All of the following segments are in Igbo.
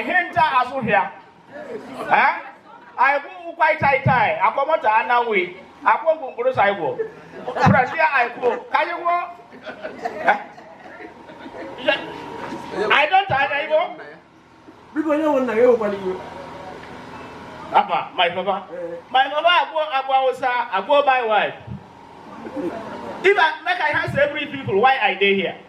ihe nta azụhịa anyị kwụkwa ịta ịta anyị akwamọta ananwụ akwụ ogwu mkpụrụ sa igbo brasi anyị kwuo ka anyị kwuo anyị dọta anya igbo biko onye nwe nna ya ewekwala iwe apa my papa eh. my papa agwọ agwọ awụsa agwọ my wife If I make I ask every people why I dey here.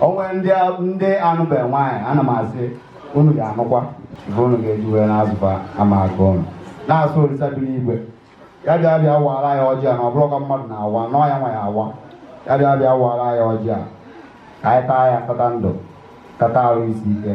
o nwere ndị anụbe nwaanyị ana m asị unu ga-anụkwa ife unu ga-eji wee na-azụba ama aka unu na-asụ orisa bi n'igwe ya bịa bịa waara anyị ọjị a na ọ bụrụ ka mmadụ na-awa nọọ ya nwa ya awa ya bịa bịa waara anyị ọjị a ka anyị taa ya tata ndụ tata arụ isi ike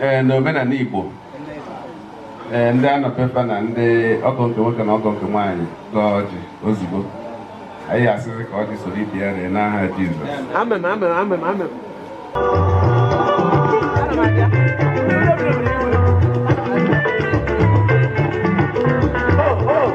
ee eh, na omenala Igbo ee eh, ndị anọpepa na ndị ọgọ nke nwoke na ọgọ nke nwaanyị gọọ ọjị ozugbo anyị asịrị ka ọjị soro ibe ya ree n'aha Jizọs amen amen amen amen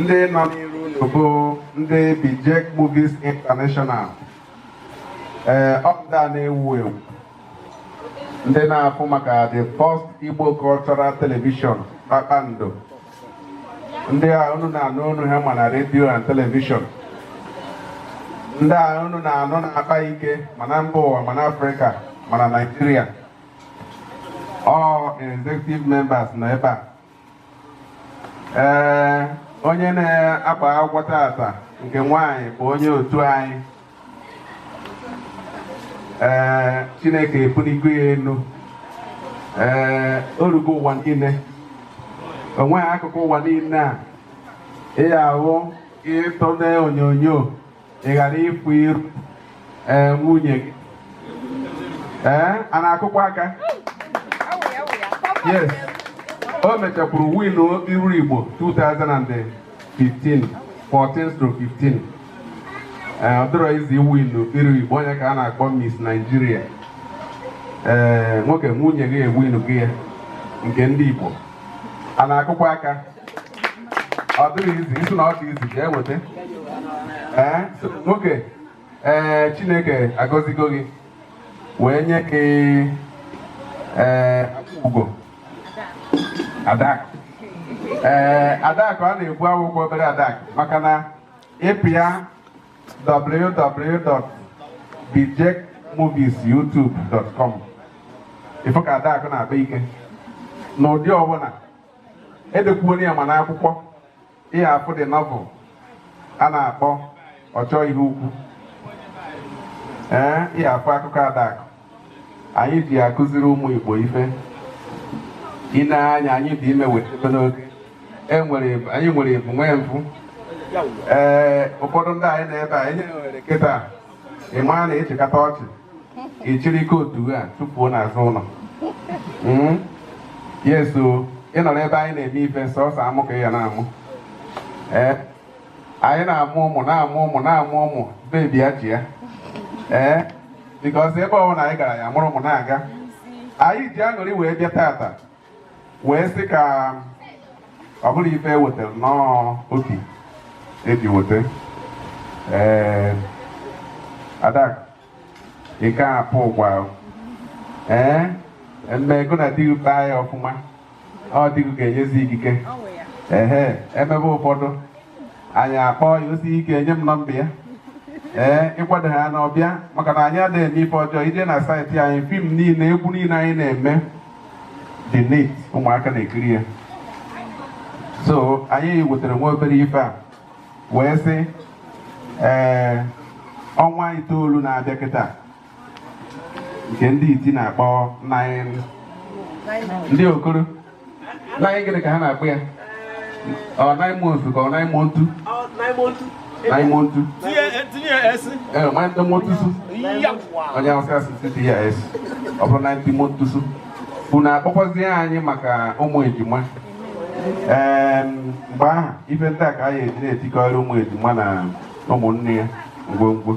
ndị nọ n'iru unu bụ ndị Bijek Movies International ee eh, ọpụta na-ewu ewu ndị na-afụ maka the first Igbo cultural television kpakpando ndị a unu na-anụ olu ha ma na radio and television ndị a unu na-anụ na-akpa ike ma na mba ụwa ma na Africa ma na Nigeria all executive members nọ ebe a ee onye na-agba akwụkwọ tata nke nwanyị bụ onye otu anyị ee chineke ebuligo ya elu ee o rugo ụwa niile o nweghị akụkụ ụwa niile a ịya ahụ ịtụle onyonyo ị ghara ịfụ iru ee nwunye gị ee a na-akụkwa aka yes o mechakwuru winuo okpiri iru igbo 2015 14-15 ee ọ dịrọ easy iwin okpiri iru igbo onye ka a na-akpọ Miss Nigeria ee nwoke nwunye gị ewingo ya nke ndị igbo a na-akụkwa aka ọ dịghị easy ị sị na ọ dị easy jee weta ee nwoke ee chineke agọzigo gị wee nye gị ee ugo adakụ ee adakụ a na-ekwu awụkwa obere adakụ maka na ịpịa www.bijecmoviesyoutube.com ị fụ ka adakụ na-akpa ike n'ụdị ọbụla edekwuona ya ma n'akwụkwọ ihe afụ dị novel a na-akpọ ọchọ ihe ukwu ee ihe afụ akụkọ adakụ anyị ji akụziri ụmụ Igbo ife ine anya anyị dị ime wetebe n'oge e anyị nwere ebu nwee mfụ ee ụfọdụ ndị anyị nọ ebe a ihe nwere kịta ị maa na ị chịkata ọchị ị chịrị ike otu a tufuo n'azụ ụlọ hmm? yes so ịnọrọ ebe anyị na-eme ife sọsọ amụ ka ị ya na-amụ ee eh? anyị na-amụ ụmụ na-amụ ụmụ na-amụ ụmụ baby ya ji ya ee eh? because ebe ọbụla anyị gara ya mụrụ ụmụ na-aga anyị ji aṅụrị wee bịa tata wee sị ka ọ bụrụ ife e wetara nnọọ obi eji weta ee ada ike apụ ụgwa ee mme gụ na di baa ya ọfụma ọ dịghị ga-enyezi ikike ehe emebe ụfọdụ anyị akpọ ya o si ike enye m number ya ee ịkwado ha na ọbịa maka na anyị adịghị eme ife ọjọọ i jee na site anyị film niile egwu niile anyị na-eme dị neat ụmụaka na-ekiri ya so anyị wetara nwa obere ife a wee sị ee ọnwa itoolu na-abịa kịta nke ndị iti na-akpọ nine ndị okoro nine gịnị ka ha na-akpọ ya ọ nine months ka ọ nine months nine months ee nine months onye awụsa asị tts ọ bụrụ nine months unu akpọkwazie anyị maka ụmụ ejima ee mgbe ahụ ife ndị a ka anyị eji na-etikọrị ụmụ ejima na ụmụnne ya ngwongwo